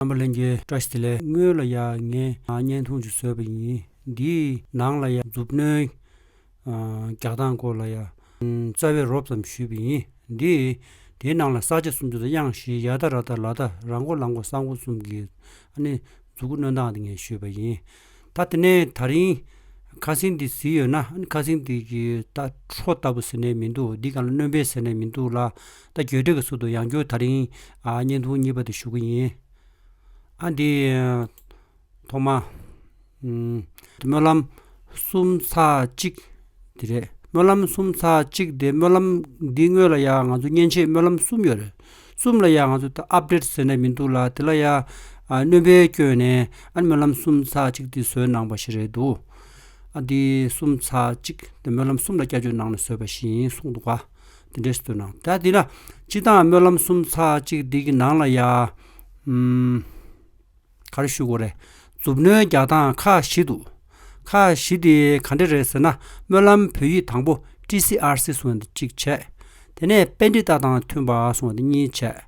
རྣམ་པ་ལྷན་སྐྱེས་བཀྲ་ཤིས་ལས་དངུལ་ལ་ཡང་ངས་བརྙན་ཐུང་ཅིག་བཟོས་པ་ཡིན། འདིའི་ནང་ལ་ཡང་མཛུབ་བསྣོལ་རྒྱག་སྟངས་སྐོར་ལ་ཡང་རྩ་བའི་རོབ་ཙམ་ཞུས་པ་ཡིན། དེའི་ནང་ལ་ས་ཆ་སུམ་ཅུ་དང་དབྱངས་བཞི་ཡ་ཐ་ར་ཐ་ལ་ཐ་ར་མགོ་ལ་མགོ་ས་མགོ་གསུམ་གྱི་མཛུ་གུ་བསྣོལ་སྟངས་དེ་ངས་ཞུས་པ་ཡིན། ད་དེ་ནས་ད་རིང། ཁ་སིང་འདི་ཟིན་ཡོད་ན་ཨཱ་ཁ་སིང་འདི་གི་ད་ཁྲོ་ལྟ་བུ་ཟེར་ནས་མི་འདུག་འདི་གང་ལ་གནོན་པའི་ཟེར་ནས་མི་འདུག་ལ། ད་གྱོད་དྲེག་གི་ཟུར་དུ་ཡང་ཁྱོད་ད་རིང། བརྙན་ཐུང་གཉིས་པ་དེ་ཞུ་གི་ཡིན། ཨཱ་འདི། ཐོག་མ། སྨོན་ལམ། གསུམ་ཚར་གཅིག། དེ་རེད། སྨོན་ལམ་གསུམ་ཚར་གཅིག་དེ་སྨོན་ལམ་འདི་དངོས་ལ་ཡང་ང་ཚོ་མཉེན་ཆས་སྨོན་ལམ་གསུམ་ཡོད་རེད། གསུམ་ལ་ཡང་ང་ཚོ་ད update བཟོས་ནས་མི་འདུག་ལ་དེ་ལ་ཡང་གནོན་པའི་སྐྱོན་ནས་ཨ་ནི་སྨོན་ལམ་གསུམ་ཚགས་གཅིག་འདི་བཟོས་གནང་པ་ཞིག་རེད་འདུག་ཨ་འདི་གསུམ་ཚགས་གཅིག་འདི་སྨོན་ལམ་གསུམ་ལ་བསྐྱར་བཅོས་གནང་ནས་བཟོས་པ་ཞིག་ཡིན་གསུངས་འདུག་དེ་འདྲས་བཟོས་གནང་ད་འདི་ན་སྤྱི་བཏང་སྨོན་ལམ་གསུམ་ཚགས་གཅིག་འདི་གི་ནང་ལ་ཡང། གར་བཞུགས་སྒོ་རེད། མཛུབ་བསྣོལ་རྒྱག་སྟངས་ཁག་བཞི་འདུག་ཁག་བཞི་དེ་ག་འདྲ་རེད་ཟེར་ན་སྨོན་ལམ་བོད་ཡིག་དང་པོ TCRC སོང་བ་འདི་གཅིག་བྱས། དེ་ནས་དཔེ་འབྲི་སྟངས་དང་མཐུན་པ་སོང་བ་འདི་གཉིས་བྱས།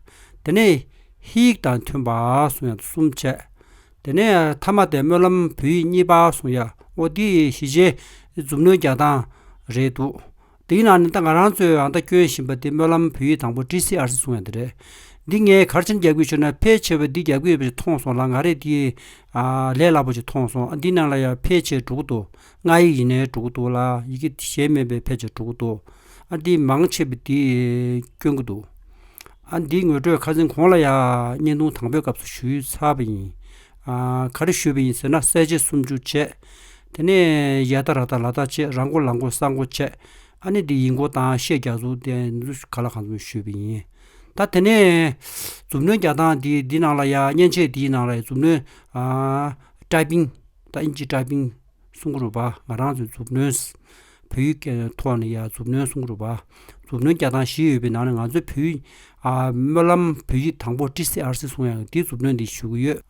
དེ་ནས་ཧི་ཡིག་དང་མཐུན་པ་སོང་ཡ་འདི་གསུམ་བྱས། དེ་ནས་ཐ་མ་དེ་སྨོན་ལམ་བོད་ཡིག་གཉིས་པ་སོང་ཡ་ཨོ་འདི་བཞི་ཆའི་མཛུབ་བསྣོལ་རྒྱག་སྟངས་རེད་འདུག་འདིའི་ནང་ནས་ད་ང་རང་ཚོས་ཨང་རྟགས་སྐྱོན་བཞིན་པ་དེ་སྨོན་ལམ་བོད་ཡིག་དང་པོ TCRC གསུང་ཡ་འདི་རེད། འདི་ངས་གར་ཆེན་རྒྱག་གི་ཆོད་ན་ཕལ་ཆེ་བས་འདི་རྒྱག་གི་ཡོད་པ་ཞིག་མཐོང་སོང་ལ་ང་རེད་འདི། ལས་སླ་པོ་ཞིག་མཐོང་སོང་ཨ་འདི་ནང་ལ་ཡ་ཕལ་ཆེ་འགྲོ་གི་འདུག་སྔགས་ཡིག་ཡིན་ནའི་འགྲོ་གི་འདུག་ལ་ཡི་གེ་གཞན་མིན་པའི་ཕལ་ཆེ་འགྲོ་གི་འདུག་ཨ་འདི་མང་ཆེ་བས་འདི་སྐྱོན་གི་འདུག་ཨ་འདི་ངོས་སྤྲོད་ཁ་ཟིན་གོང་ལ་ཡ་བརྙན་ཐུང་དང་པོའི་སྐབས་སུ་ཞུ་ཡུལ་ཚར་བ་ཡིན། ག་རེ་ཞུས་པ་ཡིན་ཟེར་ན་གསལ་བྱེད་སུམ་ཅུ་བྱས། དེ་ནས་ཡ་ད་ར་ད་ལ་ད་བྱས་ར་མགོ་ལ་མགོ་ས་མགོ་བྱས། ཨ་ནི་འདི་ཡིག་མགོ་དང་ཤད་རྒྱག་ཟུག་དེ་འདི་ག་ལ་གང་འཚམ་ཞུས་པ་ཡིན། ད་དེ་ནས། མཛུབ་གནོན་རྒྱག་སྟངས་དེ་འདི་ནང་ལ་ཡ་མཉེན་ཆས་དེའི་ནང་ལ་ཡ་མཛུབ་གནོན། ཏྲ་པིང། ཏཱ་ཨིན་ཇི་ཏྲ་པིང། སུང་གུ་རུ་པཱ་ང་རང་ཚོས་མཛུབ་གནོན། བོད་ཡིག་ཐོག་ནས་ཡང་མཛུབ་སྣོན་གསུང་རུབ། མཛུབ་སྣོན་བརྒྱ་དང་བཞི་ཡོད་པའི་ནང་ནས་ང་ཚོའི་བོད་ཡིག། སྨོན་ལམ་བོད་ཡིག་དང་པོ་ཀྲི་སེ་ཨར་སི་གསུང་ཡང་དེའི་མཛུབ་སྣོན་འདི་ཞུ་གི་ཡོད།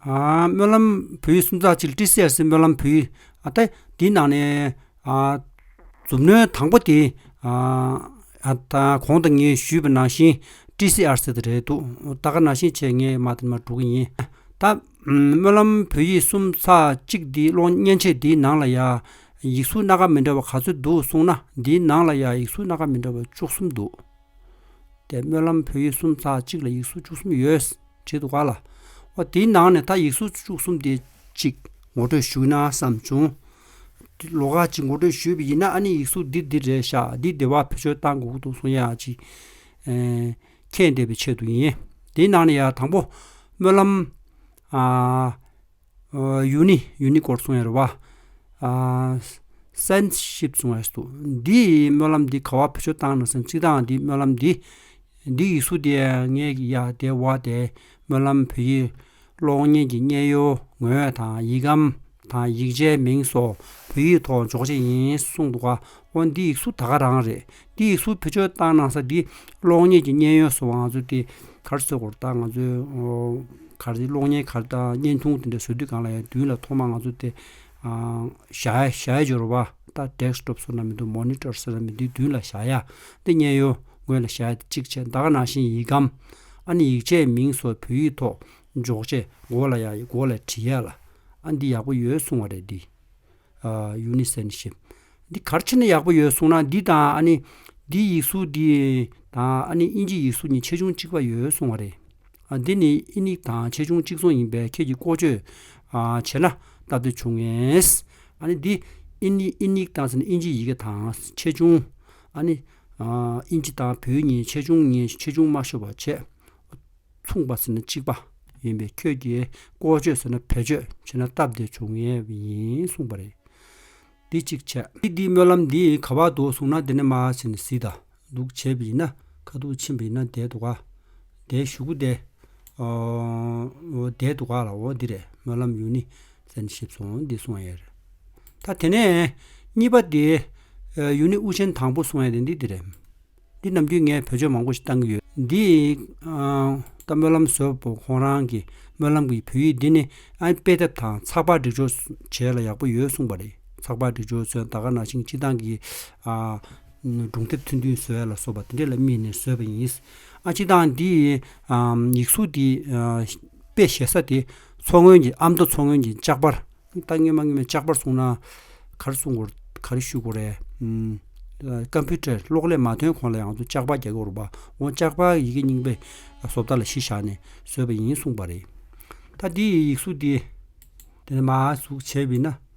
སྨོན་ལམ་བོད་ཡིག་སུམ་རྩ་གཅིག་ཀྲི་སེ་ཨར་སི་སྨོན་ལམ་བོད་ཡིག་ཨཏེ། དེའི་ནང་ནས། མཛུབ་སྣོན་དང་པོ་དེ། གོང་དུ་ངས་ཞུས་པའི་ནང་བཞིན་ཀྲི་སེ་ཨར་སི་དེ་རེད་འདུག་ད་ག་ནང་བཞིན་བྱས་ངས་མ་དེ་མ་འགྲོ་གི་ཡིན། ད། སྨོན་ལམ་བོད་ཡིག་གསུམ་ཚགས་གཅིག་འདི་ཀློག་མཉན་ཆས་འདིའི་ནང་ལ་ཡང་ཡིག་གཟུགས་སྣ་ཁ་མི་འདྲ་བ་ག་ཚོད་འདུག་གསུངས་ན་འདིའི་ནང་ལ་ཡང་ཡིག་གཟུགས་སྣ་ཁ་མི་འདྲ་བ་བཅུ་གསུམ་འདུག་དེ་སྨོན་ལམ་བོད་ཡིག་གསུམ་ཚགས་གཅིག་ལ་ཡིག་གཟུགས་བཅུ་གསུམ་ཡོད་བྲིས་འདུག་ག་ལ། ཨོ་དེའི་ནང་ནས་ད་ཡིག་གཟུགས་བཅུ་གསུམ་དེ་གཅིག་ངོ་སྤྲོད་ཞུས་ན་བསམས་བྱུང། ལོ་ཁ་ཅིག་ངོ་སྤྲོད་ཞུས་པ་ཡིན་ན་ཨ་ནི་ཡིག་གཟུགས་འདི་འདི་རེད་ཤག་འདི་བདེ་བ་བེད་སྤྱོད་གཏང་དགོས་ཀྱི་འདུག་གསུངས་ཡ་ཅིག། ཁྱེད་འདས་པའི་ཆེད་དུ་ཡིན། དེའི་ནང་ནས་ཡང་དང་པོ། སྨོན་ལམ། ཡུལ་ནི་ཡུལ་ནི་སྐོར་གསུངས་ཡོད་རེད་བ། སན་ཤིབ་གསུངས་ཡོད་སོ། འདིས་སྨོན་ལམ་འདི་ག་བ་བུ་ཆོ་བཏང་ན་སན་གཅིག་དང་འདིས་སྨོན་ལམ་འདི། འདི་ཡིག་གཟུགས་དེ་ངའི་ཡ་དེ་བ་དེ་སྨོན་ལམ་བུ་ཡིག། གློག་བརྙན་གྱི་བརྙན་ཡོལ་ངོས་དང་ཡིག་སྒམ་དང་ཡིག་ཆའི་མིང་སོགས་བོད་ཡིག་ཐོག་འཇོག་བྱེད་ཡིན་གསུངས་འདུག་ཨ་ཨོ་འདི་ཡིག་གཟུགས་ད་ག་རང་རེད་འདི་ཡིག་གཟུགས་བེད་སྤྱོད་བཏང་གནང་ས་འདི་གློག་བརྙན་གྱི་བརྙན་ཡོལ་བཟོ་བ་ང་ཚོ་དེ་གར་བཟོས་གོ་ད་ང་ཚོའི་གར་གློག་བརྙན་གར་དང་བརྙན་ཐུང་དེ་འདྲ་བཟོ་དུས་གང་ལ་ཡང་བསྡུས་ལ་ཐོག་མར་ང་ཚོ་དེ་བཞག་ཡ་བཞག་ཡ་འཇོར་བ་ད Desktop ཟེར་ན་མི་འདུག Monitor ཟེར་ན་མི་འདུག་བསྡུས་ལ་བཞག་ཡ་འདི་བརྙན་ཡོལ། སྔོན་ལ་ཞག་གཅིག་ཆད་མདའ་ག་ན་ཤིང་ཡིག་གམ། ཨ་ནི་ཡིག་ཆའི་མིང་སོགས་བོད་ཡིག་ཐོག་འཇོག་ཆས་མགོ་ལ་ཡང་མགོ་ལ་བྲིས་ཡ་ལ། ཨ་འདི་ཡག་པོ་ཡོད་གསུང་བ་རེད་འདི། Uniscenship། འདི་གར་ཕྱིན་ན་ཡག་པོ་ཡོད་གསུང་ན་འདི་དང་ཨ་ནི། འདིའི་ཡིག་གཟུགས་འདི་དང་ཨ་ནི་དབྱིན་ཇིའི་ཡིག་གཟུགས་གཉིས་ཆེ་ཆུང་གཅིག་པ་ཡོད་གསུང་བ་རེད། ཨ་འདི་ནི་ཨིན་ཡིག་དང་ཆེ་ཆུང་གཅིག་མཚུངས་ཡིན་པས་ཁྱེད་ཀྱིས་བཀོལ་སྤྱོད་བྱེད་ན་སྟབས་བདེ་བྱུང་ངེས། ཨ་ནི་འདི་ཨིན་ཡིག་དང་ཨིན་ཇིའི་ཡི་གེ་དང་ཆེ་ཆུང། ཨ་ནི། དབྱིན་ཇི་དང་བོད་གཉིས་ཆེ་ཆུང་གཉིས་ཆེ་ཆུང་དམའ་ཤོས་བར་ཆད་མཚུངས་པ་ཟེར་ན་གཅིག་པ་ཡིན་པས་ཁྱོད་ཀྱིས་བཀོལ་སྤྱོད་ཟེར་ན་བེད་སྤྱོད་བྱེད་ན་སྟབས་བདེ་བྱུང་ངེས་ཡིན་གསུངས་པ་རེད། འདི་གཅིག་བྱས། ཁྱེད་ཀྱིས་སྨོན་ལམ་འདི་ག་བར་འདུག་གསུངས་ན་འདི་ནས་མ་ཟེར་ནས་ཟིག་དང་འདུག་བྱས་པ་ཡིན་ན་ཁ་ཐུག་ཕྱིན་པ་ཡིན་ན་བསྡད་འདུག་ག་བསྡད་བཞུགས་བསྡད་འོ་བསྡད་འདུག་ག་ལ་འོ་འདི་རེད་སྨོན་ལམ་ཡུལ་ནི། བཙན་གྱིས་ཞིབ་སོང་འདི་སོང་ཡས་རེད། ད་དེ་ནས། གཉིས་པ་དེ། ཡུན་ནི་དབུ་ཆེན་དང་པོ་སོང་ཡས་དེ་འདི་དེ་རེད། འདི་ནམ་རྒྱུན་ངས་བོད་ཆོས་མང་པོ་ཞིག་བཏང་གི་ཡོད། འདི། ད་སྨོན་ལམ་བཟོས་པོ་ཁོང་རང་གི་སྨོན་ལམ་གི་བོད་ཡིག་འདི་ནི་ཨ་དཔེ་དེབ་དང་ཚགས་པར་སྒྲིག་སྦྱོར་བྱས་ལ་ཡག་པོ་ཡོད་གསུངས་པ་རེད་ཚགས་པར་སྒྲིག་སྦྱོར་ཚོན་ད་ག་ནང་བཞིན་སྤྱི་བཏང་གི། སྒྲུང་དེབ་ཐུང་ཐུང་བཟོས་ལ་སོགས་པ་དེ་འདྲས་ལ་དམིགས་ནས་བཟོས་པ་ཡིན། ཨ་སྤྱི་བཏང་འདི། ཡིག་གཟུགས་འདི། དཔེ་བཞེས་ས་དེ། མཚོ་སྔོན་གྱི་ཨ་མདོ་མཚོ་སྔོན་གྱི་ལྕགས་པར། ད་སྔོན་མ་སྔོན་མའི་ལྕགས་པར་གསུངས་ན། ག་རེ་གསུངས་དགོས་ག་རེ་ཞུ་དགོས་རེད། Computer གློག་ཀླད་མ་ཐོན་གོང་ལ་ཡང་ལྕགས་པར་རྒྱག་གི་རུང་བ། འོ་ལྕགས་པར་ཡི་གེ་རྙིང་པའི་བཟོ་ལྟ་ལ་གཞི་བཞག་ནས་བཟོས་པ་ཡིན་གསུངས་པ་རེད། ད་འདི་ཡི་ཡིག་གཟུགས་འདི། དེ་ནས་མ་གཟུགས་བྱས་བས་ན།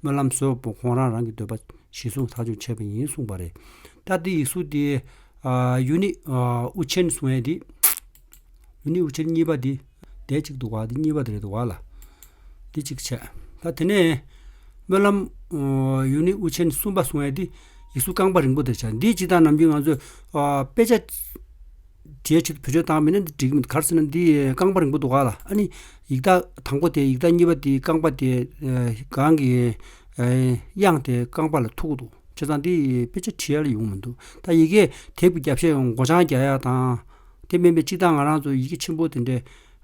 སྨོན་ལམ་སོགས་པོ་ཁོང་རང་རང་གི་འདོད་པ་གཞི་བཟུང་ཐག་གཅོད་བྱས་པ་ཡིན་གསུངས་པ་རེད། སྟབས་བདེ་ཡིག་གཟུགས་དེ། ཡུ་ནི་ཨུ་ཆེན་སུང་ཨེ་དེ། ཡུ་ནི་ཨུ་ཆེན་གཉིས་པ་དེ། དེ་གཅིག་འདུག་བ་དེ་གཉིས་པ་དེ་རེད་འདུག་བ་ལ། དེ་གཅིག་བྱས། ད་དེ་ནས། སྨོན་ལམ། ཡུ་ནི་ཨུ་ཆེན་གསུམ་པ་སུང་ཨེ་དེ། ཡིག་གཟུགས་རྐང་པ་རིང་པོ་དེ་བྱས། འདིའི་སྤྱི་བཏང་ནམ་རྒྱུན་ང་ཚོས། དཔེ་ཆ། འབྲེལ་ཁྲིད་བོད་ཆོས་བཏང་མིན་ན་འདི་འགྲིག་གི་མི་འདུག་ག་རེ་ཟེར་ན་འདི་རྐང་པ་རིང་པོ་འདུག་ག་ལ་ཨ་ནི་ཡིག་རྟགས་དང་པོ་དེ་ཡིག་རྟགས་གཉིས་པ་དེའི་རྐང་པ་དེ་གང་གི་དབྱངས་དེ་རྐང་པ་ལ་ཐུག་གི་འདུག་བྱས་ཙང་འདི་དཔེ་ཆ་ཁྲིད་ཡ་ལ་ཡོང་མི་འདུག་ད་ཡི་གེ་དེབ་ཀྱི་རྒྱབ་ཤ་ཡང་མགོ་བྱང་རྒྱག་ཡ་དང། དེ་མིན་པའི་གཅིག་ད་ང་རང་ཚོ་ཡི་གེ་ཆེན་པོ་དེ་འདྲའི་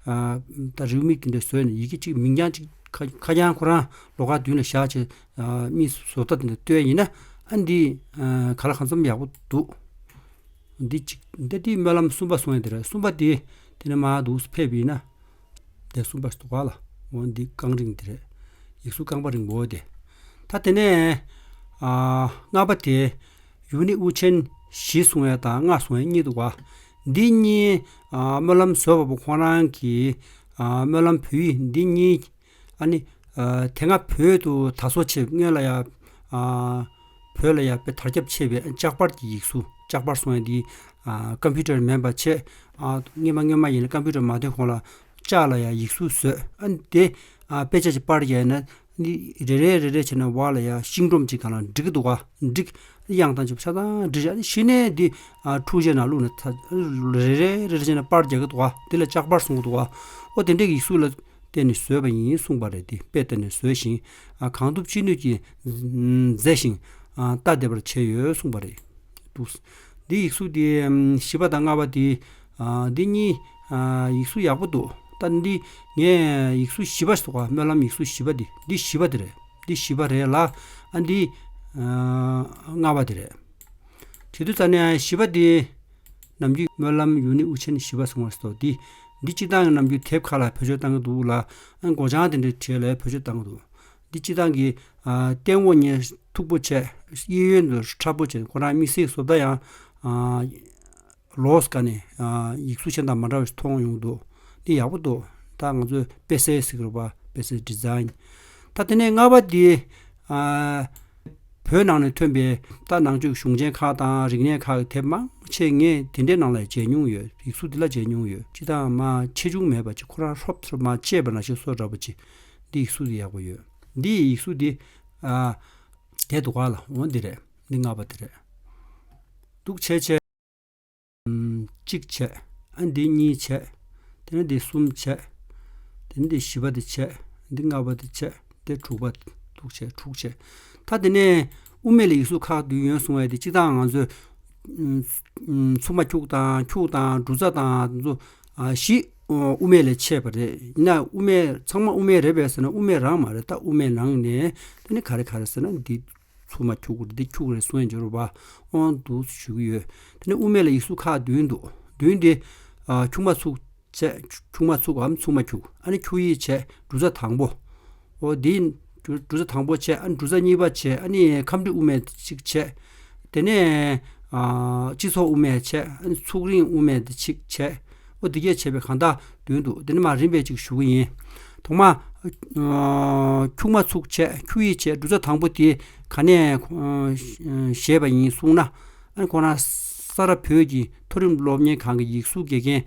ད་རེའུ་མིག་དེ་འདྲའི་བཟོས་ནས་ཡི་གེ་གཅིག་མིང་རྐྱང་གཅིག་ཁ་རྐྱང་ཁོ་རང་ལོ་ག་བདུན་ལ་བཞག་ཅེས་རྨིས་བཟོ་ལྟ་དེ་འདྲ་བཏོན་ཡིན་ན་ཨ་འདི་ག་ལ་གང་འཚམ་ཡག་པོ་འདུག། འདི་གཅིག་འདི་དེའི་སྨོན་ལམ་གསུམ་པ་སོང་ཡང་དེ་རེད་གསུམ་པ་དེ་དེ་ནས་མ་དུག་སུ་ཕེབས་ཡིན་ན། དེ་གསུམ་པ་ཟློག་ག་ལ་འོང་འདི་རྐང་རིང་དེ་རེད། ཡིག་གཟུགས་རྐང་པ་རིང་པོ་དེ། ད་དེ་ནས། ལྔ་པ་དེ། ཡུམ་ནི་དབུ་ཆེན་བཞི་སོང་ཡ་དང་ལྔ་སོང་ཡ་གཉིས་འདུག་བ། འདི་གཉིས། སྨོན་ལམ་བཟོ་བ་པོ་ཁོང་རང་གིས། སྨོན་ལམ་བུ་ཡིག་འདི་གཉིས། ཨཱ་ནི། དེ་སྔ་བོད་དུ་ད་གཟོད་ཆེས་སྔོན་ལ་ཡང། བོད་ལ་ཡང་པའི་དར་ཁྱབ་ཆེ་བའི་ལྕགས་པར་གྱི་ཡིག་གཟུགས་ལྕགས་པར་སོང་ཡང་དེའི། ཀམ་ཕུའུ་ཏར་མེད་པ་ཆེས། སྔོན་མ་སྔོན་མ་ཡིན་ལ་ཀམ་ཕུའུ་ཏར་མ་ཐོན་གོང་ལ། ལྕགས་ལ་ཡང་ཡིག་གཟུགས་བཟོས་ཨ་ནི་དེ། དཔེ་ཆ་ཞིག་པར་བྱས་ན། རེ་རེ་རེ་རེ་བྱས་ན་བར་ལ་ཡང་ཤིང་སྒྲོམ་གཅིག་གང་ལ་འགྲིག་གི་འདུག་འགྲིག། དབྱངས་རྟ་འཇིབ་ཆ་ཚང་འབྲི་བྱས་ཤི་ནས་དེ། འཁྲུག་ཆས་ནང་བླུགས་ནས་ད་རེ་རེ་རེ་རེ་བྱས་ན་པར་རྒྱག་གི་འདུག་དེ་ལ་ལྕགས་པར་གསུང་གི་འདུག་ཨོ་དེ་འདྲའི་ཡིག་གཟུགས་ལ། བསྟེན་ནས་བཟོས་པ་ཡིན་གསུངས་པ་རེད་དེ་དཔེ་བསྟེན་ནས་བཟོས་ཤིང། གང་ཐུབ་ཅི་ནུས་ཀྱིས་མཛེས་ཤིང། ལྟ་བདེ་བར་བྱས་ཡོད་གསུངས་པ་རེད་འདུག། འདིའི་ཡིག་གཟུགས་དེ་བཞི་པ་དང་ལྔ་བ་དེ། འདི་གཉིས་ཡིག་གཟུགས་ཡག་པོ་འདུག་ད་འདི་ངས་ཡིག་གཟུགས་བཞི་པ་ཟེར་བ་སྨོན་ལམ་ཡིག་གཟུགས་བཞི་པ་འདི་འདི་བཞི་པ་དེ་རེད་འདི་བཞི་པ་རེད་ལ། འདི་ལྔ་བ་དེ་རེད། བྱེད་དུས་རྩ་ནས་བཞི་པ་དེ། ནམ་རྒྱུན་སྨོན་ལམ་ཡུལ་ནི་དབུ་ཆེན་བཞི་པ་སོང་བར་སོ་འདི། འདི་སྤྱི་བཏང་གི་ནམ་རྒྱུན་དེབ་ཁག་ལ་བོད་ཆོས་བཏང་གི་འདུག་ལ། སྒོ་བྱང་དེ་འདྲའི་གྲས་ལ་བོད་ཆོས་བཏང་གི་འདུག། འདི་སྤྱི་བཏང་གི། སྟེང་འོག་གཉིས་མཐུག་པོ་བྱས། གཡས་གཡོན་དུ་ཁྲ་པོ་བྱས་ཁོ་རང་དམིགས་བསལ་བཟོ་ལྟ་ཡང། ལོགས་སུ་ཀ་ནས། ཡིག་གཟུགས་ཆེན་དང་མ་འདྲ་བ་ཞིག་མཐོང་ཡོང་གི་འདུག། འདི་ཡག་པོ་འདུག་ད་ང་ཚོས་དཔེ་གསལ་ཟེར་གི་རེད་པ་དཔེ་གསལ Design། ད་དེ་ནས་ལྔ་པ་འདི། བོད་ནང་ནས་ཐོན་པའི་རྟ་ནག་ཆུ་གཞུང་ཆེན་ཁག་དང་རིག་གནས་ཁག་དེབ་མང་ཆེ་ངས་དེ་འདྲའི་ནང་ལ་མཇལ་མྱོང་ཡོད་རིག་གཟུགས་དེ་ལ་མཇལ་མྱོང་ཡོད་སྤྱི་དང་མ་ཆེ་ཆུང་མེད་པ་ཅིག་ཁོ་རང་ཧྲོབ་ཐོབ་མ་བྱས་པ་ན་ཞིག་གསོ་འདྲ་པོ་ཅིག་འདི་ཡིག་གཟུགས་དེ་ཡག་པོ་ཡོད་འདི་ཡིག་གཟུགས་དེ་རྒྱས་འདུག་ག་ལ་འོང་འདི་རེད་འདི་སྔ་བ་དེ་རེད་འདུག་ཆེ་ཆེ། གཅིག་བྱས། ཨ་འདི་གཉིས་བྱས། དེ་ནས་འདི་གསུམ་བྱས། དེ་ནས་འདི་བཞི་པ་འདི་བྱས། འདི་ལྔ་པ་འདི་བྱས། འདི་དྲུག་པ་དུག་བྱས་དྲུག་བྱས། ད་དེ་ནས་དབུ་མེད་ལ་ཡིག་གཟུགས་ཁག་འདུས་ཡོན་གསུང་བ་ཡོད་དེ་གཅིག་དང་ང་ཚོས། འཚུབ་མ་འཁྱུག་དང་འཁྱུག་དང་འབྲུ་ཚ་དང་འདུ། བཞི་དབུ་མེད་ལས་ཆད་པ་རེད། ཡིན་ན་དབུ་མེད་ཚང་མ་དབུ་མེད་རེད་བས་ཟེར་ན་དབུ་མེད་རང་མ་རེད་ད་དབུ་མེད་ནང་ནས་དེ་ནི་ག་རེ་ག་རེ་ཟེར་ན་འདི། ཚུར་མ་འཁྱུག་གོ་འདི་འཁྱུག་རེད་གསུང་ཡང་འབྱོར་བ་དབང་དུ་ཞུ་གི་ཡོད། དེ་ནས་དབུ་མེད་ལ་ཡིག་གཟུགས་ཁག་བདུན་འདུག་བདུན་དེ། འཁྱུག་མ་ཚུགས། འཁྱུག་མ་ཚུགས་འམ་ཚུགས་མ་འཁྱུག་ཨ་ནི་འཁྱུག་ཡིག་བྱས་འབྲུ་ཚ་དང་པོ། འོ་དེ། འབྲུ་ཚ་དང་པོ་བྱས་ཨ་ནི་འབྲུ་ཚ་གཉིས་པ་བྱས་ཨ་ནི་ཁམས་འདྲི་དབུ་མེད་གཅིག་བྱས། དེ་ནས། སྤྱི་ཚོགས་དབུ་མེད་བྱས་ཨ་ནི་ཚུགས་རིང་དབུ་མེད་གཅིག་བྱས། ཨོ་འདི་སྐད་བྱས་པས་གང་དག་འདོན་འདུག་འདི་ནི་མ་རིན་པས་ཅིག་ཞུ་གི་ཡིན། ཐོག་མ། ཁྱུག་མ་ཚུགས་ཆད་ཁྱུག་ཡིག་ཆད་འབྲུ་ཚ་དང་པོ་དེ་ག་ནས་བཞེས་པ་ཡིན་གསུངས་ན། ཨ་ནི་ཁོང་རང་ས་རཱ་བོད་ཀྱི་མཐོ་རིམ་སློབ་གཉེར་ཁང་གི་ཡིག་གཟུགས་དགེ་རྒན་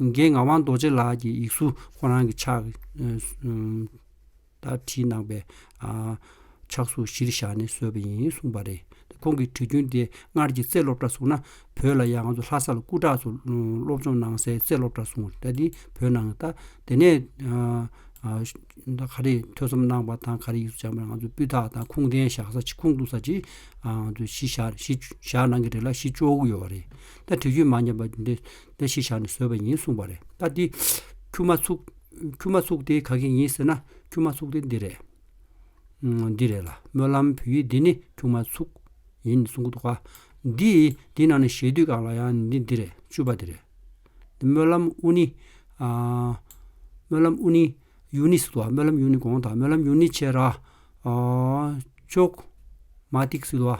ངག་དབང་རྡོ་རྗེ་ལགས་ཀྱི་ཡིག་གཟུགས་ཁོང་རང་གི་ཕྱག་ལྟར་བྲིས་གནང་བས། ཕྱག་ཟུང་གཞིར་བཞག་ནས་བཟོས་པ་ཡིན་གསུངས་པ་རེད། ཁོང་གིས་བྲིས་རྒྱུན་དེ་སྔར་གྱི་རྩེ་སློབ་གྲྭར་བཟུང་ན་བོད་ལ་ཡང་ང་ཚོ་ལྷ་ས་ལ་སྐུ་དྲག་ཚོ་སློབ་སྦྱོང་གནང་སའི་རྩེ་སློབ་གྲྭར་བཟུང་ད་འདི་བོད་ནང་ལྟ། དེ་ནས་ག་རེ་ཐོས་བསམ་གནང་བ་དང་ག་རེ་ཡིག་གཟུགས་སྦྱངས་པ་ང་ཚོས་སྤུས་དག་དང་ཁུངས་ལྡན་བཞག་ས་ཅི་ཁུངས་གཏུགས་ས་ཅི་ང་ཚོས་གཞི་བཞག་གནང་གི་རེད་ལ་གཞི་བཅོལ་དགོས་ཡོད་པ་རེད། ད་བྲིས་རྒྱུན་མ་ཉམས་པ་འདི་ལྟར་གཞི་བཞག་ནས་བཟོས་པ་ཡིན་གསུངས་པ་རེད། ད་འདི་ཁྱུག་མ་ཚུགས། ཁྱུ་མ་ཚུགས་དེ་ག་གི་ཡིན་ཟེར་ན་ཁྱུ་མ་ཚུགས་དེ་འདི་རེད། འདི་རེད་ལ་སྨོན་ལམ་བུ་ཡིག་འདི་ནི་ཁྱུ་མ་ཚུགས་ཡིན་གསུང་གི་འདུག་ག། འདི་འདི་ནང་ནས་བཞེས་དུས་གང་ལ་ཡང་འདི་འདི་རེད་བཅུ་པ་འདི་རེད། སྨོན་ལམ་དབུ་ནི། སྨོན་ལམ་དབུ་ནི། ཡུ་ནི་ཟེར་དུ་བ་སྨོན་ལམ་ཡུ་ནི་གོང་དང་སྨོན་ལམ་ཡུ་ནི་ཕྱེད་ར། ཅོག། མ་ཏིག་ཟེར་དུ་བ།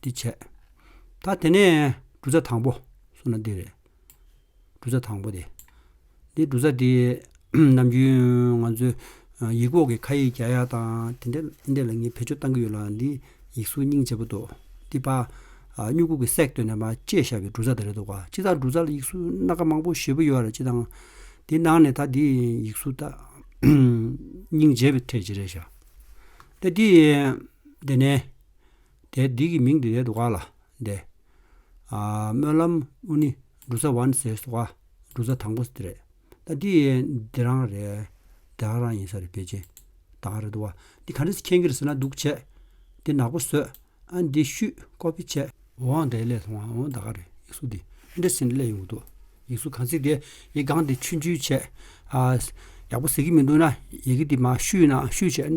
འདི་བྱས། ད་དེ་ནས་འབྲུ་ཚ་དང་པོ་སོང་ན་འདི་རེད། འབྲུ་ཚ་དང་པོ་འདི། འདི་འབྲུ་ཚ་འདི་ནམ་རྒྱུན་ང་ཚོའི་ཡིག་འོག་གི་ཁ་ཡིག་རྒྱ་ཡག་དང་དེ་འདྲ་ལ་ངས་བེད་སྤྱོད་བཏང་གི་ཡོད་ལ་འདི་ཡིག་གཟུགས་རྙིང་བྱེད་པོ་འདུག་འདི་པ། སྨྱུ་གུ་གི་གསེག་བཏོན་ནས་པ་བཅད་ཤར་བའི་འབྲུ་ཚ་དེ་རེད་འདུག་བ། སྤྱི་ལྟར་འབྲུ་ཚ་ལ་ཡིག་གཟུགས་སྣ་ཁ་མང་པོ་བཞི་པོ་ཡོད་རེད་སྤྱི་དང། འདི་ནང་ནས་ད་འདི་ཡིག་གཟུགས་རྙིང་བྱེད་པའི་ཐད་ཅི་རེད་བྱ། ད་འདི་འདི་ནས། དེ་སྡིག་གི་མིང་དེ་ལས་བ་ལ་འདས། སྨོན་ལམ་དབུ་ནི་འབྲུ་ཚ་བ་ནི་ཟས་བ་འབྲུ་ཚ་དང་པོ་དེ་རེད། དེ་ཡན་དེ་རང་རེད། དེ་ཧ་རང་ཡིན་ས་རེད་བེ་ཅིན་དང་རེད་བ། འདི་ག་འདྲ་ཟེར་ཁྱེད་གིར་ཟེར་ན་སྡུག་བྱས། འདི་ནག་པོ་ཟོས། ཨ་འདི་བཤུས་ཀོ་བེ་བྱས། འོང་དེ་ལས་སོང་ཨ་འོང་ད་ག་རེད་ཡིག་གཟུགས་འདི་འདྲ་ཟེར་ན་ལས་ཡོང་གི་འདུག་ཡིག་གཟུགས་གང་ཟིག་དེ་ཡི་གང་དེ་ཆུན་ཆུན་བྱས། ཡག་པོ་ཟེར་གི་མི་འདུག་ན་ཡི་གེ་འདི་མ་བཤུས་ན་བཤུས་བྱས།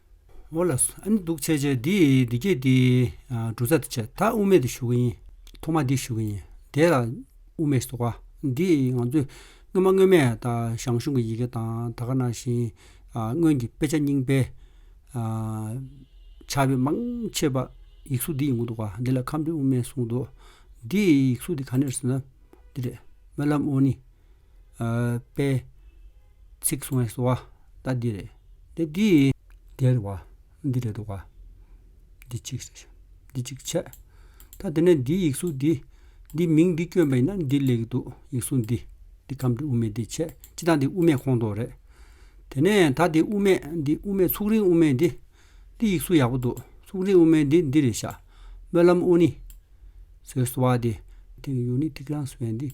འོ་ལ། ཨ་ནི་འདུག་བྱས་བྱས་འདི་འདི་སྐད་དེ། འབྲུ་ཚ་འདི་བྱས་ད་དབུ་མེད་དུ་ཞུ་གི་ཡིན། ཐོག་མ་འདི་ཞུ་གི་ཡིན། དེ་ལ། དབུ་མེད་ཟེར་བ། འདི་ང་ཚོས། སྔོན་མ་སྔོན་མས་ད་ཞང་ཞུང་གི་ཡི་གེ་དང་ད་ག་ན་བཞིན། སྔོན་གྱི་དཔེ་ཆ་རྙིང་པའི། ཆ་བེད་མང་ཆེ་བ། ཡིག་གཟུགས་འདི་ཡིན་གྱི་འདུག་བ། འདི་ལ་ཁམས་འབྲི་དབུ་མེད་གསུངས་འདུག། འདི་ཡིག་གཟུགས་འདི་ག་ནས་ཟེར་ན། འདི་རེད། སྨོན་ལམ་དབུ་ནི། པའི། ཚིག་གསུང་བའི་སོ་བ་ལྟ་འདི་རེད། དེ་དེའི། དེར་བ། འདི་རེ་དོགས་པ། འདི་གཅིག། འདི་གཅིག་ཆད། ད་དེ་ནས་འདིའི་ཡིག་གཟུགས་འདི། འདི་མིང་འདི་བསྐྱོན་པ་ཡིན་ན་འདི་ལེགས་འདུག་ཡིག་གཟུགས་འདི། འདི་ཁམས་འདི་དབུ་མེད་འདི་ཆད་སྤྱི་དང་འདི་དབུ་མེད་ཁོང་དོགས་རེད། དེ་ནས་ད་འདི་དབུ་མེད་འདི་དབུ་མེད་ཚུགས་རིང་དབུ་མེད་འདི། འདི་ཡིག་གཟུགས་ཡག་པོ་འདུག་ཚུགས་རིང་དབུ་མེད་འདི་འདི་རེ་བཞག། སྨོན་ལམ་ཨོ་ནི། ཟེར་བའི་སོ་བ་འདི། ཐིག་ཡོད་ནི་ཐིག་རང་སོ་བའི་འདི།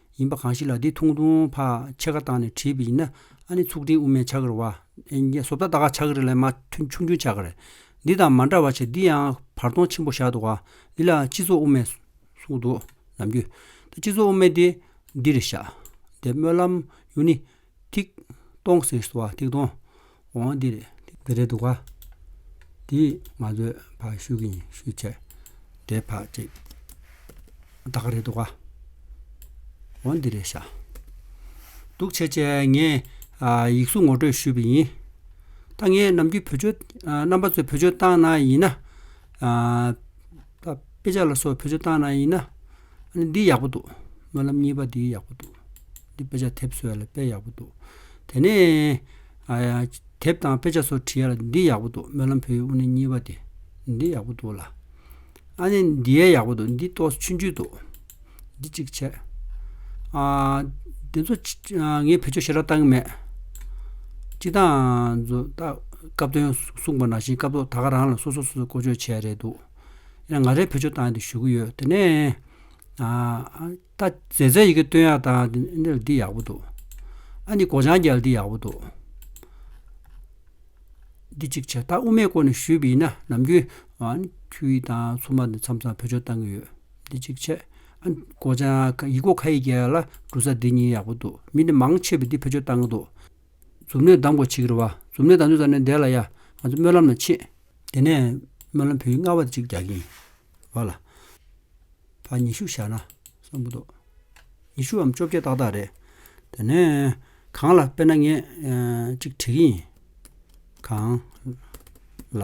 ཡིན་པ་གང་ཞིག་ལ་དེ་ཐུང་ཐུང་བ་ཕྱེད་ཀ་བཏང་ནས་བྲིས་པ་ཡིན་ན་ཨ་ནི་ཚུགས་ཀྲིན་དབུ་མའི་ཕྱག་རི་བ། བཟོ་ལྟ་ད་ག་ཕྱག་རི་ལས་མ་ཐུན་ཆུང་ཆུང་ཕྱག་རི། འདི་དང་མ་འདྲ་བ་ཆེ་འདི་ཡང་བར་སྟོང་ཆེན་པོ་བཞག་འདུག་ག་འདི་ལ་སྤྱི་ཚོགས་དབུ་མའི་གསུངས་འདུག་ནམ་རྒྱུན། སྤྱི་ཚོགས་དབུ་མའི་དེ་འདིར་བཞག། དེ་སྨོན་ལམ་ཡུལ་ནི་ཐིག། སྟོང་གསེར་བསུ་བ་ཐིག་སྟོང། འོང་འདིར། འདི་རེད་འདུག་ག། དེས་ང་ཚོས་ཕར་བཤུ་གིན་བཤུ་བྱས། དེ་ཕར་བྲིས། ད་ག་རེད་འདུག་ག། འོང་འདི་རེད་ཤག། འདུག་ཆེ་ཆེ་ངས་ཡིག་གཟུགས་ངོ་སྤྲོད་ཞུས་པ་ཡིན། ད་ངས་ནམ་རྒྱུན་བོད་ཆོས་རྣམ་པ་ཚོས་བོད་ཆོས་བཏང་ན་ཡིན་ན། དཔེ་ཆ་ལ་སོགས་བོད་ཆོས་བཏང་ན་ཡིན་ན། འདི་ཡག་པོ་འདུག་སྨོན་ལམ་གཉིས་པ་འདི་ཡག་པོ་འདུག། འདི་དཔེ་ཆ་དེབ་བཟོ་ཡ་ལ་དཔེ་ཡག་པོ་འདུག་དེ་ནས། དེབ་དང་དཔེ་ཆ་སོགས་བྲིས་ཡ་ལ་འདི་ཡག་པོ་འདུག་སྨོན་ལམ་བོད་ཡིག་དབུ་ནི་གཉིས་པ་དེ། འདི་ཡག་པོ་འདུག་ལ། ཨ་ནི་འདི་ཡ་ཡག་པོ་འདུག་འདི་ཏོག་ཆུན་ཆུན་འདུག། འདི་གཅིག་བྱས། འདི་ཚོ་ངས་བེད་སྤྱོད་ཞེ་དྲག་བཏང་གི་མེད། སྤྱི་བཏང་ཚོ་སྐབས་དོན་གསུངས་པ་ནང་བཞིན་སྐབས་ཐོག་ད་ག་རང་ལ་སོ་སོ་སོ་སོ་བསྐོ་སྤྱོད་བྱས་ཡ་རེད་འདུག། ཡིན་ན་ང་རས་བེད་སྤྱོད་བཏང་ཡ་འདུག་ཞུ་གི་ཡོད་དེ་ནས། ད་རྫས་རྫས་ཡི་གེ་བཏོན་ཡག་ད་འདི་ཡག་པོ་འདུག་ཨ་འདི་སྒོ་བྱང་རྒྱལ་འདི་ཡག་པོ་འདུག། འདི་གཅིག་བྱས་ད་དབུ་མའི་སྐོར་ནས་ཞུས་པ་ཡིན་ན་ནམ་རྒྱུན་ཁྱོད་ཡིག་དང་ཚོགས་མ་འདི་མཚམས་མཚམས་བོད་ཆོས་བཏང་གི་ཡོད་འདི་གཅིག་བྱས། ཨ་སྒོ་བྱང་ཡིག་སྒོ་ཁ་ཡིག་རྒྱལ་ལ་འབྲུ་ས་འདི་གཉིས་ཡག་པོ་འདུག་མི་འདི་མང་ཆེ་བས་འདི་བོད་ཆོས་བཏང་གི་འདུག། མཛུབ་མོས་གདམས་གོ་ཆིག་རེ་བ་མཛུབ་མོས་གདམས་ཆོས་ཟ་ནས་འདས་ལ་ཡ་ང་ཚོ་སྨོན་ལམ་ལ་ཕྱིན། དེ་ནས་སྨོན་ལམ་བོད་ཡིག་སྔ་བ་དེ་གཅིག་རྒྱག་གིན་ཡོད། བ་ལ། བར་ཉི་ཤུ་བཞག་ན་བསམ་གྱི་འདུག། ཉི་ཤུའམ་བཅོ་བརྒྱད་ཏག་ཏག་རེད། དེ་ནས། གང་ལ་དཔེར་ན་ངས་གཅིག་བྲིས་ཀྱི་ཡིན། གང། ལ།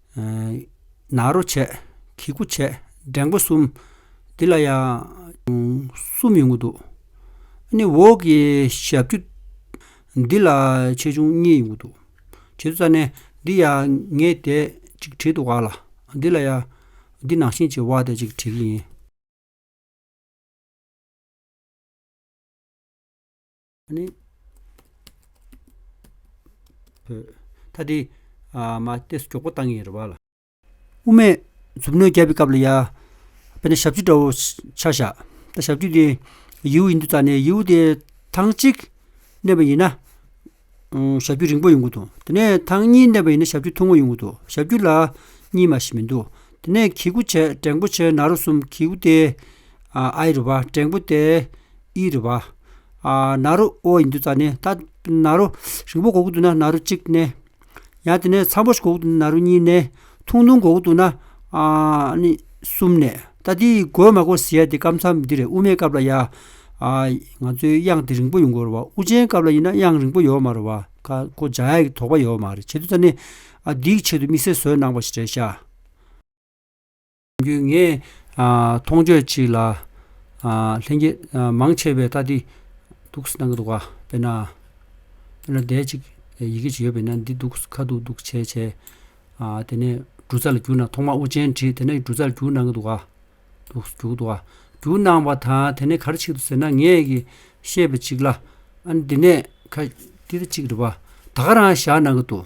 ནཱ་རོ་བྱས། གི་གུ་བྱས། འགྲེང་བ་གསུམ། འདི་ལ་ཡང། གསུམ་ཡོང་གི་འདུག། ནི་འོག་གི་ཞབས་ཀྱུ། འདི་ལ་ཆེ་ཆུང་གཉིས་ཡོང་གི་འདུག། བྱེད་དུ་རྩ་ནས། འདི་ཡང་ངས་དེ་གཅིག་བྲིས་འདུག་ག་ལ། འདི་ལ་ཡང། འདི་ནང་བཞིན་གྱི་བ་དེ་གཅིག་བྲིས་ཀྱི་ཡིན། ནི། ཐ་དི། མ་སྟེ་སོ་ཀྱོག་པོ་བཏང་ཡིན་རེད་བ་ལ། དབུ་མའི། མཛུབ་མོས་རྒྱབ་པའི་སྐབས་ལ་ཡ། དཔེར་ན་ཞབས་ཀྱུ་འདྲ་བོ་ཆགས་བཞག། ད་ཞབས་ཀྱུ་དེ། ཡིའུ་ཡིན་དུ་བཏགས་ནས་ཡིའུ་དེ། ཐང་གཅིག། གནས་པ་ཡིན་ན། ཞབས་ཀྱུ་རིང་པོ་ཡོང་གི་འདུག་དེ་ནས་ཐང་གཉིས་གནས་པ་ཡིན་ན་ཞབས་ཀྱུ་ཐུང་ངུ་ཡོང་གི་འདུག་ཞབས་ཀྱུ་ལ། གཉིས་མ་ཞིག་མི་འདུག་དེ་ནས་གི་གུ་བྱས་བྲེང་པོ་བྱས་ན་རུ་གསུམ་གི་གུ་དེ། ཨ་ཨི་རུ་བ་བྲེང་པོ་དེ། ཨི་རི་བ། ནཱ་རོ་ཨོ་ཡིན་དུས་ཙཱ་ནས་ད་ནཱ་རོ། རིང་པོ་གོ་གི་འདུག་ན་ནཱ་རོ་གཅིག་ནས། ཡང་དེ་ནས་མཚམས་པོ་ཞིག་གོ་གི་འདུག་ན་ནཱ་རོ་གཉིས་ནས། ཐུང་ཐུང་གོ་གི་འདུག་ན། གསུམ་ནས། ད་འདི་གོ་མ་གོ་ཟེར་ཡ་དེ་སྐབས་མཚམས་འདི་རེད་དབུ་མའི་སྐབས་ལ་ཡ། ང་ཚོའི་དབྱངས་དེ་རིང་པོ་ཡོང་དགོས་རེད་བ་དབུ་ཅན་སྐབས་ལ་ཡིན་ན་དབྱངས་རིང་པོ་ཡོད་མ་རེད་བ། ཁ་ཁོ་འཇགས་ཡ་གི་དོགས་པ་ཡོད་མ་རེད་བྱེད་དུས་ཙཱ་ནས། འདིའི་ཆེད་དུ་དམིགས་བསལ་བཟོས་གནང་བ་ཞིག་རེད་ཤག། རྒྱུས་ངས་མཐོང་ཆོས་གཅིག་ལ། ལྷན་སྐྱེས་མང་ཆེ་བས་ལྟ་འདི་འདུག་སྣང་གི་འདུག་ག་དཔེར་ན། དཔེར་ན་བརྡས་གཅིག་ཡི་གེ་ཞིག་ཡོད་པས་ན་འདི་འདུག་ཁ་འདུག་འདུག་བྱས་བྱས། དེ་ནས་འབྲུ་རྩ་ལ་གྱུར་ན་ཐོག་མར་དབུ་ཅན་བྲིས་དེ་ནས་འབྲུ་རྩ་ལ་གྱུར་སྣང་གི་འདུག་ག། འདུག་གི་འདུག་ག་གྱུར་སྣང་བ་དང་དེ་ནས་གར་ཆིག་ཏུ་ཟེར་ན་ངས་ཀྱི་ཤེས་པ་གཅིག་ལ། ཨ་ནི་འདི་ནས་ཁ། འདི་ལྟར་གཅིག་རེད་པ། ད་ག་རང་བཞག་སྣང་གི་འདུག།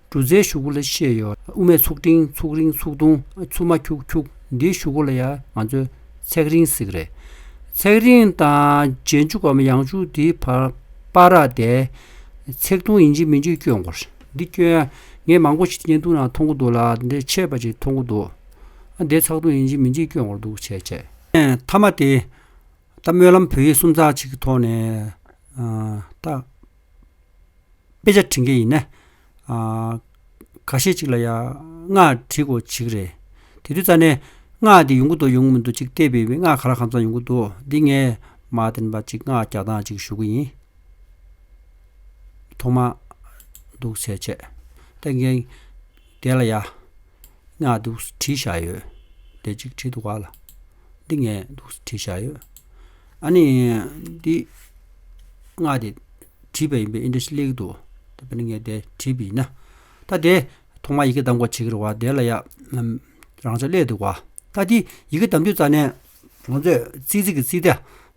འབྲུ་ཟའི་ཞུ་གུ་ལ་ཤེས་ཡོད། དབུ་མའི་ཚུགས་ཕྲེང་ཚུགས་རིང་ཚུགས་ཐུང་ཚུགས་མ་འཁྱུག་འཁྱུག་འདིའི་ཞུ་གུ་ལ་ཡང་ང་ཚོས་ཚེགས་རིང་ཟེར་གི་རེད། ཚེགས་རིང་དང་རྗེས་འཇུག་གམ་ཡང་འཇུག་དེའི་བར་པ་ར་དེ། ཚེགས་ཐུང་ཡིན་གཅིག་མིན་གཅིག་སྐྱོན་གོ། འདི་སྐྱོན་ཡ། ངས་མང་པོ་ཞིག་བརྙན་ཐུང་ནང་མཐོང་གི་འདུག་ལ་འདིར་ཆད་པ་ཞིག་མཐོང་གི་འདུག། འདི་ཚགས་ཐུང་ཡིན་གཅིག་མིན་གཅིག་སྐྱོན་གོ་འདུག་བྱས་བྱས། མཐའ་མ་དེ། ད་སྨོན་ལམ་བོད་ཡིག་སུམ་རྩ་གཅིག་གི་ཐོག་ནས་ད། དཔེ་ཆ་བྲི་མཁན་ཡིན་ན། ག་ཤེད་ཅིག་ལ་ཡང་སྔགས་བྲི་དགོས་གཅིག་རེད། དེ་དུས་རྩ་ནས་སྔགས་དེ་ཡོང་གི་འདུག་ཡོང་གི་མི་འདུག་ཅིག་བལྟས་པས་སྔགས་ག་ར་གང་ཙམ་ཡོང་གི་འདུག་འདི་ངས་མ་བདེན་པ་ཅིག་སྔགས་རྒྱག་སྟངས་ཅིག་ཞུ་གི་ཡིན། ཐོག་མ་འདུག་བྱས་བྱས། ད་འགན་བདེན་ལ་ཡ། སྔགས་འདུག་སུ་བྲིས་བཞག་ཡོད། ལས་གཅིག་བྲིས་འདུག་ག་ལ། འདི་ངས་འདུག་སུ་བྲིས་བཞག་ཡོད། ཨ་ནི། འདི། སྔགས་དེ། བྲིས་པ་ཡིན་པས་ཨིན་ཏྲ་ཤི་ལེགས་འདུག། ད་བེ་ན་ངས་དེ་བྲིས་པ་ཡིན་ན། ད་དེ། ཐོག་མར་ཡི་གེ་གདམ་གོ་བྱེད་ཀྱི་རེད་བ། དེ་ལ་ཡ། རང་ཅག་ཀླད་འདུག་ག། ད་དེ། ཡི་གེ་གདམ་དུས་རྩ་ནས། ང་ཚོས། ཙིག་ཙིག་གི་ཙིག་དེ།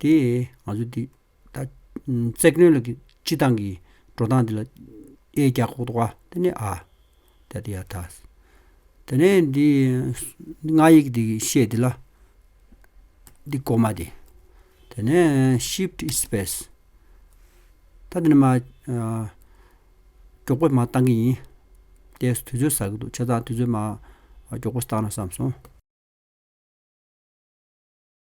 དེས་ང་ཚོ་འདི་ལྟ། ཙེག་ནོན་ལ་སྤྱི་བཏང་གི་འགྲོ་སྟངས་འདི་ལ་ཨེ་རྒྱག་ཁོག་ཏུ་བ། དེ་ནས་ཨ། ད་དེ་ཡ་ད། དེ་ནས་འདི་སྔགས་ཡིག་འདི་བཤད་འདི་ལ། འདི་སྒོ་མ་དེ། དེ་ནས shift space། ད་དེ་ནས་མ། མགྱོགས་པོ་མ་བཏང་གི་ཡིན། དེ་དུས་ཚོད་ཟ་གི་འདུག་བྱས་ཙང་དུས་ཚོད་མ་མགྱོགས་པོ་བཏང་ན་བསམ་སོང།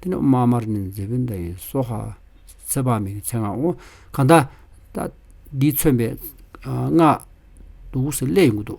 འདི་ནི་དམར་དམར་ནི་མཛེས་པོའི་མདའ་ཡིན། སོ་ཧ། ཚེ་དཔག་མེད་ཀྱི་ཚེ་སྔགས་འོ། གང་དག། འདིས་མཚོན་པའི། སྔགས། དུག་གསེར་ཀླད་ཡིན་དགོས་འདུག།